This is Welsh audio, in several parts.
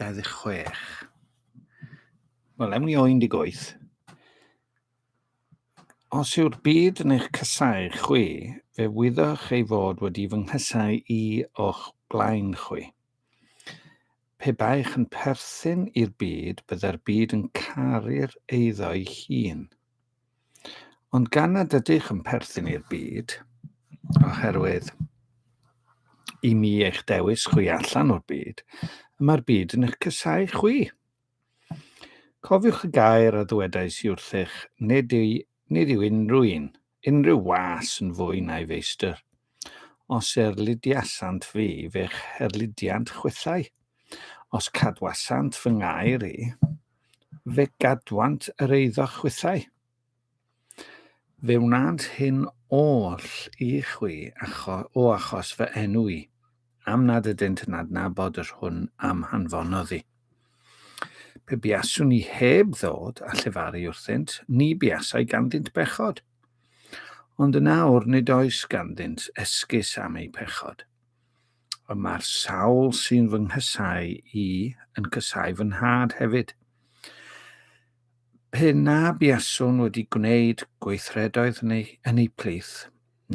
26. Wel, ewn ni o 18. Os yw'r byd yn eich casau chwi, fe wyddoch ei fod wedi fy nghysau i o'ch blaen chwi. Pe baech yn perthyn i'r byd, byddai'r byd yn caru'r eiddo'i hun. Ond gan nad ydych yn perthyn i'r byd, oherwydd i mi eich dewis chwi allan o'r byd, y mae'r byd yn eich cysau chwi. Cofiwch y gair a ddwedais i wrthych, nid, i, nid yw unrhyw un, unrhyw was yn fwy na'i feistr. Os erlidiasant fi, fe'ch herlidiant chwithau. Os cadwasant fy ngair i, Fe gadwant yr eiddo chwithau. Fe wnânt hyn oll i chwi acho, o achos fy enw i, am nad ydynt yn adnabod yr hwn a'm hanfonodd i. Pe buaswn i heb ddod a llefaru wrthynt, ni buasai ganddynt bechod. Ond yn awr nid oes ganddynt esgus am eu pechod. Ond mae'r sawl sy'n fy nghysau i yn cysau fy nhad hefyd. Pe na buaswn wedi gwneud gweithredoedd neu yn ei plith,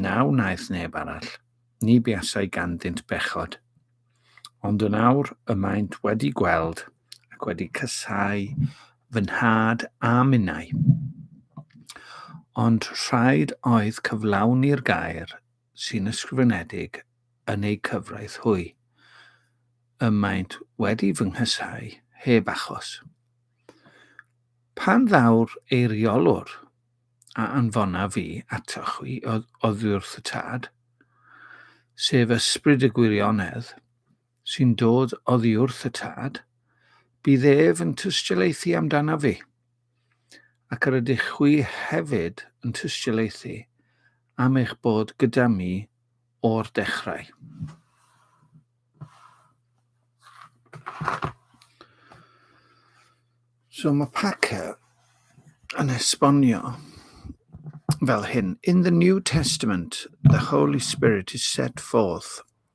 na wnaeth neb arall, ni buasai ganddynt bechod. Ond yn awr y maent wedi gweld ac wedi cysau fy nhad a minnau. Ond rhaid oedd cyflawni'r gair sy'n ysgrifenedig yn eu cyfraith hwy, y maent wedi fy nghysáu heb achos. Pan ddaw'r eiriolwr a anfona fi ato chwi oddiwrth y tad, sef ysbryd y gwirionedd, sy'n dod oddi wrth y tad, bydd ef yn tystiolaethu amdana fi, ac yr ydych chwi hefyd yn tystiolaethu am eich bod gyda mi o'r dechrau. So mae Packer yn esbonio fel hyn. In the New Testament, the Holy Spirit is set forth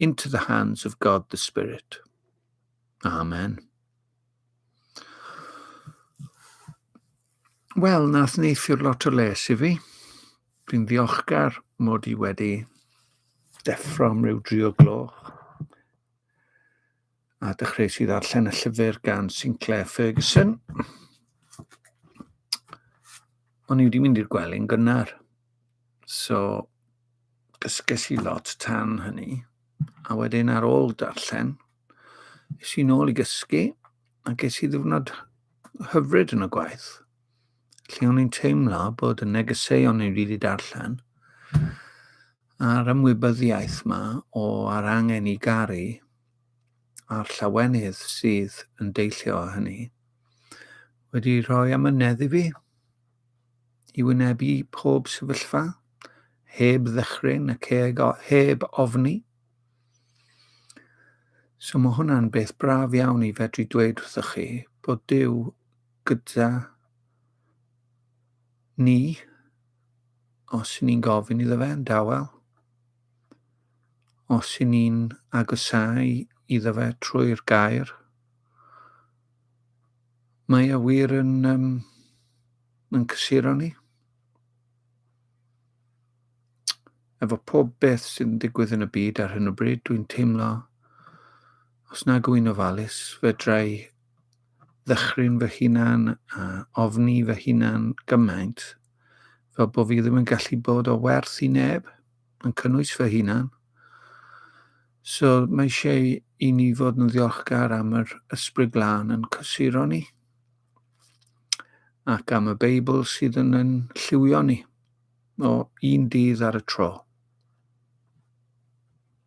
into the hands of God the Spirit. Amen. Wel, nath neithiwr lot o les i fi. Dwi'n ddiolchgar mod i wedi deffro am ryw drio gloch. a dechreuais i ddarllen y llyfr gan Sinclair Ferguson. O'n i wedi mynd i'r gwely'n gynnar. So, dysges i lot tan hynny. A wedyn ar ôl darllen, es i'n ôl i gysgu a ges i ddiwrnod hyfryd yn y gwaith. lle o'n i'n teimlo bod y negeseuon yn rili darllen a'r ymwybyddiaeth yma o ar angen i garu a'r llawenydd sydd yn deillio o hynny wedi rhoi amynedd i fi i wynebu pob sefyllfa heb ddechryn ac heb ofni. So mae hwnna'n beth braf iawn i fedru dweud wrthych chi bod Dyw gyda ni os ni'n gofyn iddo fe yn dawel, os i ni'n agosau iddo fe trwy'r gair. Mae e wir yn, um, yn cysuro ni. Efo pob beth sy'n digwydd yn y byd ar hyn o bryd, dwi'n teimlo os nag wy'n ofalus, fedrai ddychryn fy hunan a ofni fy hunan gymaint fel bod fi ddim yn gallu bod o werth i neb yn cynnwys fy hunan. So mae eisiau i ni fod yn ddiolchgar am yr ysbryd glân yn cysuro ni ac am y Beibl sydd yn yn lliwio ni o un dydd ar y tro.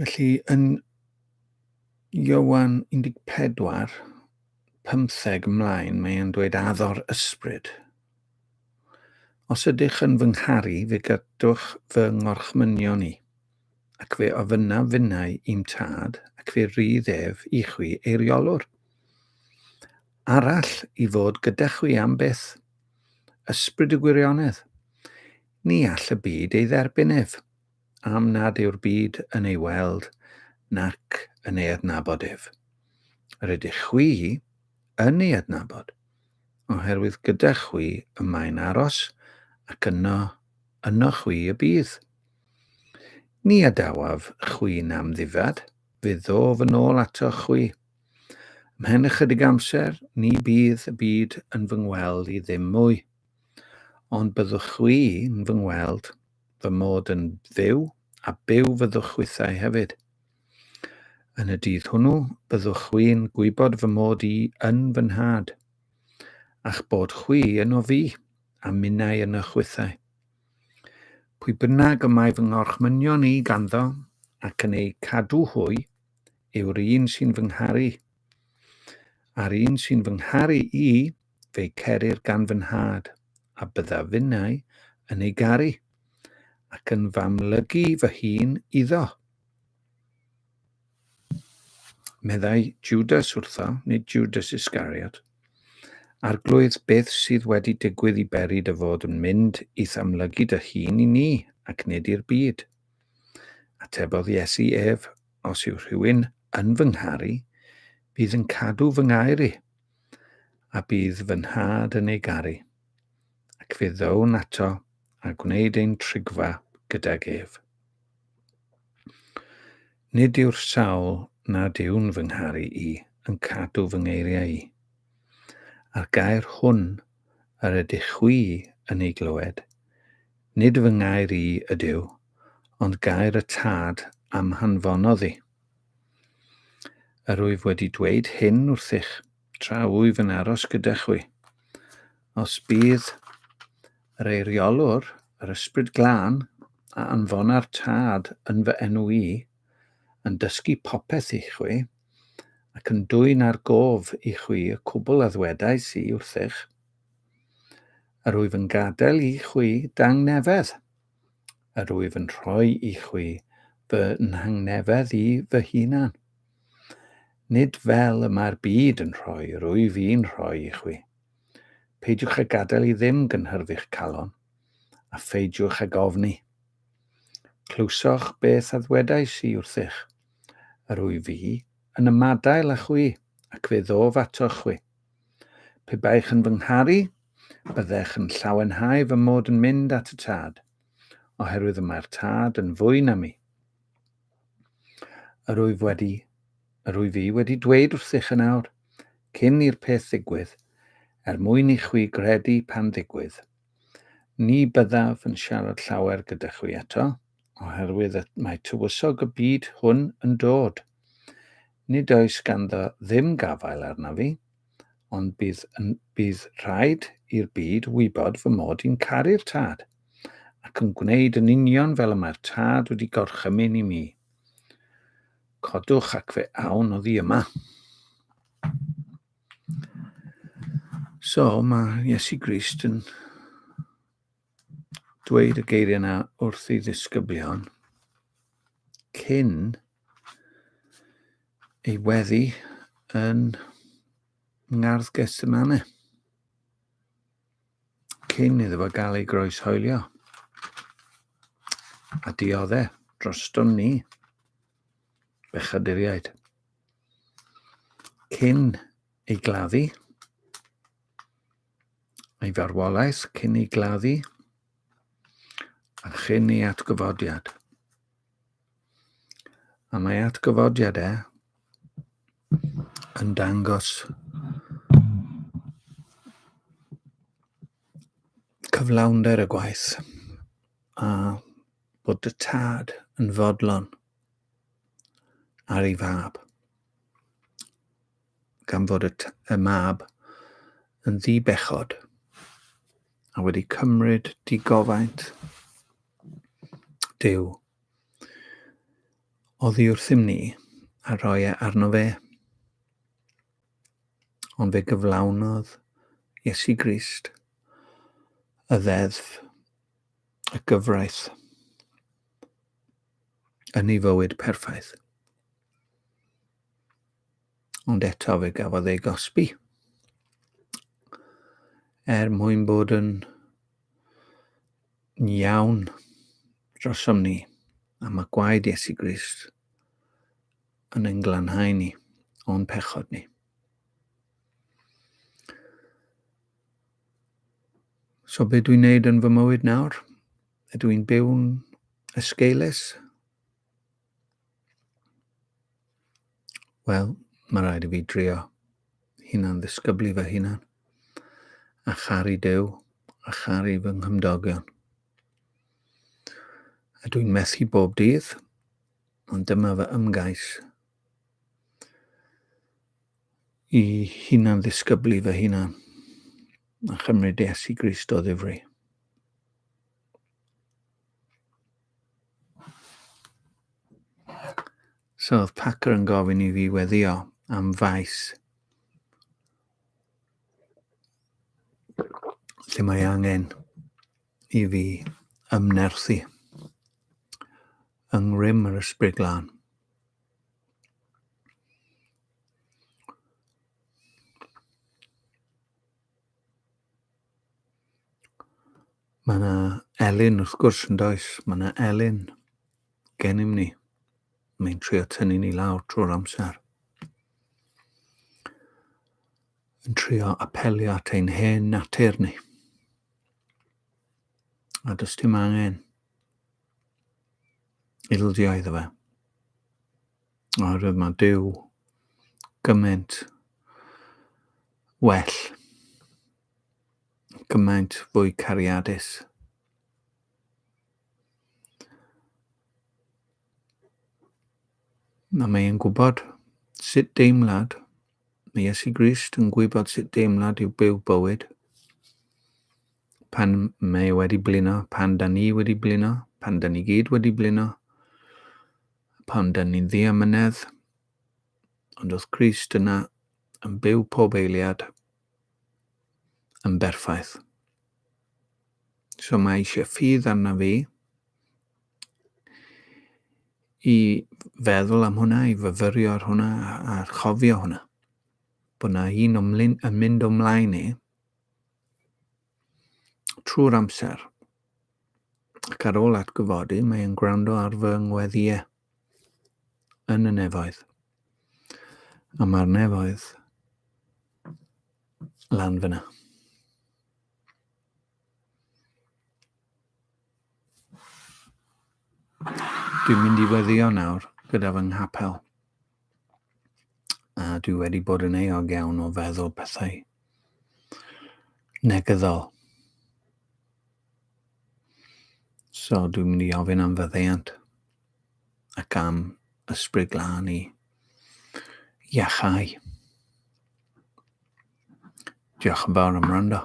Felly, yn Iowan 14, 15 ymlaen, mae e'n dweud addo'r ysbryd. Os ydych yn fy ngharu, fe gadwch fy ngorchmynion i, ac fe ofynna finnau i'm tad, ac fe rydd ef i chwi eiriolwr. Arall i fod gyda chwi am byth, ysbryd y gwirionedd. Ni all y byd ei dderbyn ef, am nad yw'r byd yn ei weld nac yn ei adnabod ef. Yr ydych chwi yn ei adnabod, oherwydd gyda chwi y mae'n aros, ac yno, yno chwi y bydd. Ni adawaf chwi nam ddifad, fe ddof yn ôl ato chwi. Mhen ychydig amser, ni bydd y byd yn fy ngweld i ddim mwy. Ond byddwch chwi yn fy ngweld, fy mod yn fyw, a byw fyddwch chwithau hefyd. Yn y dydd hwnnw, byddwch chwi'n gwybod fy mod i yn fy nhad, a'ch bod chwi yno fi, a minnau yn y chwithau. Pwy bynnag y mae fy ngorchmynion i ganddo, ac yn eu cadw hwy, yw'r un sy'n fy ngharu. A'r un sy'n fy ngharu i, fe'i cerir gan fy nhad, a bydda finnau yn ei garu, ac yn f'amlygu fy hun iddo. Meddai Judas wrtho, nid Judas Iscariot, Arglwydd, beth sydd wedi digwydd i beri dy fod yn mynd i'th amlygu dy hun i ni, ac nid i'r byd? Atebodd Iesu ef, Os yw rhywun yn fy ngharu, bydd yn cadw fy ngair i, a bydd fy nhad yn ei garu, ac fe ddown ato a gwneud ein trigfa gydag ef. Nid yw'r sawl nad yw'n fy ngharu i yn cadw fy ngeiriau i. A'r gair hwn yr ydych chwi yn ei glywed, nid fy ngair i ydyw, ond gair y tad am hanfonodd i. Yr wyf wedi dweud hyn wrthych, tra wyf yn aros gyda chwi. Os bydd yr eiriolwr, yr ysbryd glân, a anfona'r Tad yn fy enw i, yn dysgu popeth i chwi, ac yn dwyn ar gof i chwi y cwbl a ddwedais i wrthych, yr wyf yn gadael i chwi dangnefedd. yr wyf yn rhoi i chwi fy nghangnefedd i fy hunan. Nid fel y mae'r byd yn rhoi, yr wyf i'n rhoi i chwi. Peidiwch a gadael i ddim gynhyrfu'ch calon, a pheidiwch ag ofni. Clywsoch beth a ddwedais i wrthych, yr wyf fi yn ymadael â chwi, ac fe ddof atoch chwi. Pe baech yn fy ngharu, Byddech yn llawenhau fy mod yn mynd at y tad, oherwydd y mae'r tad yn fwy na mi. Yr wyf wedi, yr wyf i wedi dweud wrthych yn awr, cyn i'r peth ddigwydd, er mwyn i chwi gredu pan ddigwydd. Ni byddaf yn siarad llawer gyda chwi eto, oherwydd mae tywysog y byd hwn yn dod. Nid oes ganddo ddim gafael arna fi, ond bydd, bydd rhaid i'r byd wybod fy mod i'n caru'r tad, ac yn gwneud yn union fel y mae'r tad wedi gorchymyn i mi. Codwch ac fe awn oddi yma. So, mae Iesu Grist yn dweud y geiriau yna wrth ei ddisgyblion cyn ei weddi yn ngardd Gethsemane cyn iddo fo gael ei groes hoelio a diodde droston ni bechaduriaid cyn ei gladdu ei farwolaeth cyn ei gladdu a chyn ei atgyfodiad. A mae atgyfodiad e yn dangos cyflawnder y gwaith a bod y tad yn fodlon ar ei fab. gan fod y, y mab yn ddi-bechod a wedi cymryd digofaint Dyw. Oddi wrthym ni a roi e arno fe. Ond fe gyflawnodd Iesu Grist y ddeddf y gyfraith yn ei fywyd perffaith. Ond eto fe gafodd ei gosbi. Er mwyn bod yn iawn drosom ni, a mae gwaed Iesu Grist yn ein glanhau ni o'n pechod ni. So be dwi'n neud yn fy mywyd nawr? Ydw i'n byw'n esgeulus? Wel, mae rhaid i fi drio hunan ddisgyblu fy hunan. A charu dew, a charu fy nghymdogion. A dwi'n methu bob dydd, ond dyma fy ymgais i hunan ddisgyblu fy hunan a chymryd des i Grist o ddifri. So oedd Packer yn gofyn i fi weddio am faes lle mae angen i fi ymnerthu yng ngrym yr ysbryd glân. Mae yna Elin, wrth gwrs, yn does. Mae yna Elin gennym ni. Mae'n trio tynnu ni lawr trwy'r amser. Yn trio apelio at ein hen natur ni. A does dim angen ildio iddo fe. Oherwydd mae Duw gymaint well, gymaint fwy cariadus. A mae'n gwybod sut deimlad Mae Iesu Grist yn gwybod sut deimlad yw byw bywyd. Pan mae e wedi blino, pan da ni wedi blino, pan da ni gyd wedi blino, pan da ni'n ddi amynedd, ond wrth Grist yna yn byw pob eiliad yn berffaith. So mae eisiau ffydd arna fi, i feddwl am hwnna, i fyfyrio ar hwnna a, a chofio hwnna. Bod na un ymlyn, yn mynd ymlaen ni trwy'r amser. Ac ar ôl atgyfodi, mae e'n gwrando ar fy ngweddiau yn y nefoedd. A mae'r nefoedd lan fyna. Dwi'n mynd i weddio nawr gyda fy nghapel. A dwi wedi bod yn eog iawn o feddwl pethau negyddol. So dwi'n mynd i ofyn am fyddeiant ac am ysbryd glân i iachau. Diolch yn fawr am rando.